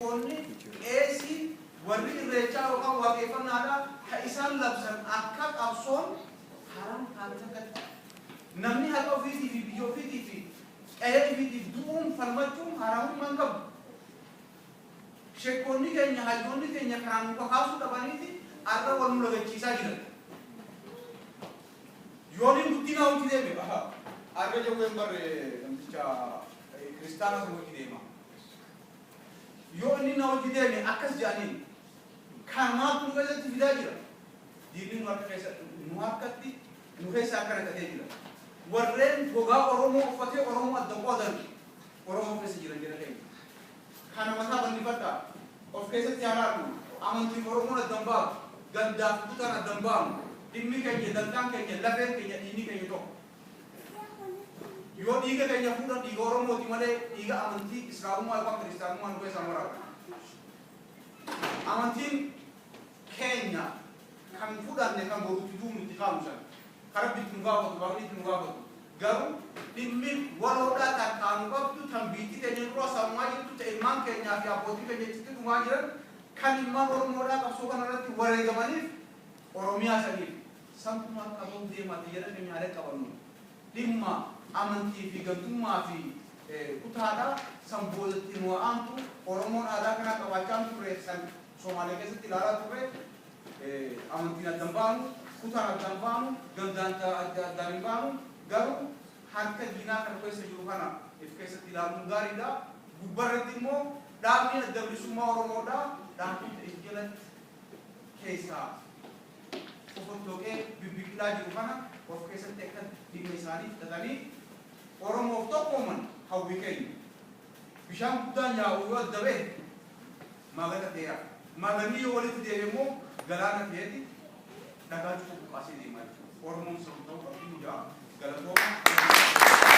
Luboonni, qeesii, warri irreechaa yookaan waaqeeffannaadhaa kan isaan labsan akka qabsoon haram taate takkatti. Namni haqa ofiitii fi biyya ofiitii fi qe'ee ifiitiif du'uun falmachuun haramummaa hin qabu. Shekkoonni keenya, hayyoonni keenya kanaan nu kakaasuu dhabaniiti arra wal nu lagachiisaa jiran. Yooniin dubbiin haa hojii deeme baha. Arra jawween barre namticha kiristaana san hojii deema. Yoo inni na wajji deeme akkas jedhaniin, Kana maaltu nu keessatti fidaa jira? Diinni nu harka keessa, nu harkatti, nu keessa akka naqatee jira. Warreen gogaa Oromoo uffatee Oromoo adda qoodan Oromoo keessa jiran jara keenya. Kana mataa bal'ifadhaa. Of keessatti haa laallu. Amantiif Oromoon adda hin baatu. Gandaaf kutaan adda hin baanu. Dhimmi keenya, dantaan keenya, lafeen keenya, dhiigni keenya tokko. Yoo dhiiga keenya fuudhan dhiiga Oromooti malee dhiiga amantii Islaamummaa yookaan Kiristaanummaa nu keessaa hin waraabne. Amantiin keenya kan fudhanne kan boruutti du'u nutti kaamu sana. Kan Rabbi itti nu gaafatu, Waaqni itti nu gaafatu. Garuu dhimmi waloodhaa kan qaanu qabdu tan biitti keenya dura sammaa jirtu ta ilmaan keenyaa fi abbootii keenya achitti dhumaa jiran kan ilmaan Oromoodhaa qabsoo kana irratti wareegamaniif Oromiyaa saniif Salphumaan qabuun deemaa ti jedhame nyaalee qabanu. Dhimma amantii fi gantummaa fi kutaa dha. San booda itti nu haa aantu. Oromoon aadaa kanaa qabaachaa hin turre. San Somaalee keessatti ilaalaa turre. Amantiin adda hin baanu. Kutaan adda hin baanu. Gandaan addaan hin baanu. Garuu harka diinaa ka nu keessa jiru kana if keessatti ilaaluun gaarii dha. Gubbaa irratti immoo dhaabni Adda Bilisummaa Oromoo dha. Dhaabota if jalatti. keessaa fofottoqee bibbiqilaa jiru kana of keessatti akka dhimma isaanii fudhatanii Oromoof tokkooman hawwii keenya. Bishaan guddaan yaa'u yoo adda ba'e maagata ta'ee hafa. Maaganni yoo walitti deeme immoo galaana ta'eeti dhagaa cufa buqqaasee deemaa jira. Oromoon sirbu ta'uu qabdi hundaa galatooma.